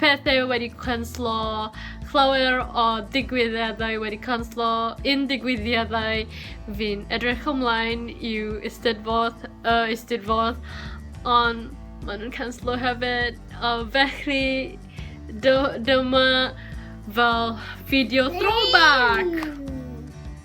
pethau wedi canslo, llawer o digwyddiadau wedi canslo, un digwyddiadau fi'n edrych ymlaen i'w eisteddfod, y uh, eisteddfod, ond maen nhw'n canslo hefyd, a felly dyma fel fideo throwback!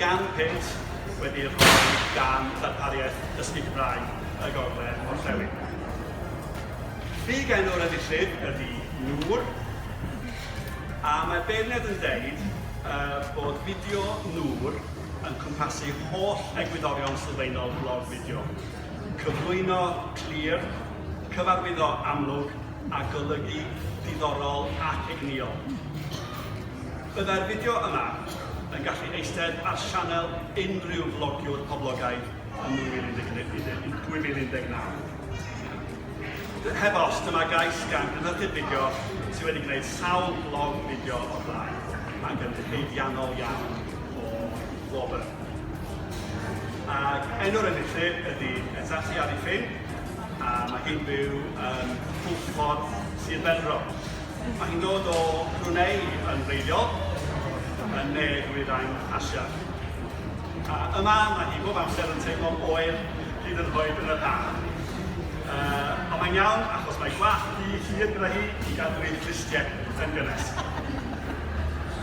gan pynt wedi rhoi gan ddarpariaeth dysgu Cymraeg y Gogledd Orllewin. Fi gen o'r enillydd ydy Nŵr, a mae beirniad yn dweud uh, bod fideo Nŵr yn cwmpasu holl egwyddorion sylfaenol blog fideo, cyflwyno clir, cyfarwyddo amlwg a golygu diddorol ac egnïol. Byddai'r fideo yma yn gallu eistedd ar sianel unrhyw flogiwr poblogaidd yn 2019. Heb os, dyma gais gan gynhyrchydd fideo sydd wedi gwneud sawl blog fideo o'r blaen, ac yn haeddiannol iawn. o wobr. Ac enw'r enillydd ydy Etati Arifin, a mae hi'n byw yn Pwllffordd, Sir Benfro. Mae hi'n dod o Brunei yn wreiddiol, yn ne Dwyrain Asia. A yma mae hi bob amser yn teimlo oer hyd yn hoed yn yr haf. Uh, ond mae'n iawn achos mae gwallt hi hir gyda hi i gadw ei fflistiau yn gynnes.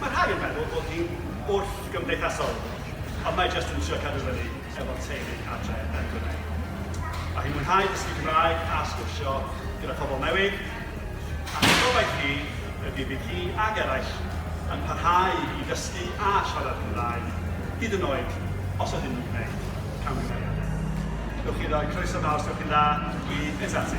Mae rhai yn meddwl bod hi'n wrthgymdeithasol, ond mae jyst yn trio cadw fyny efo'r teulu adre yn Brunei. Mae hi'n mwynhau dysgu Cymraeg a sgwrsio gyda phobl newydd, ac ei gobaith hi ydi bydd hi ac eraill yn parhau i ddysgu a siarad Cymraeg, hyd yn oed os ydyn nhw'n gwneud camgymeriad. Ewch i roi croeso mawr os ewch chi'n dda i Izati.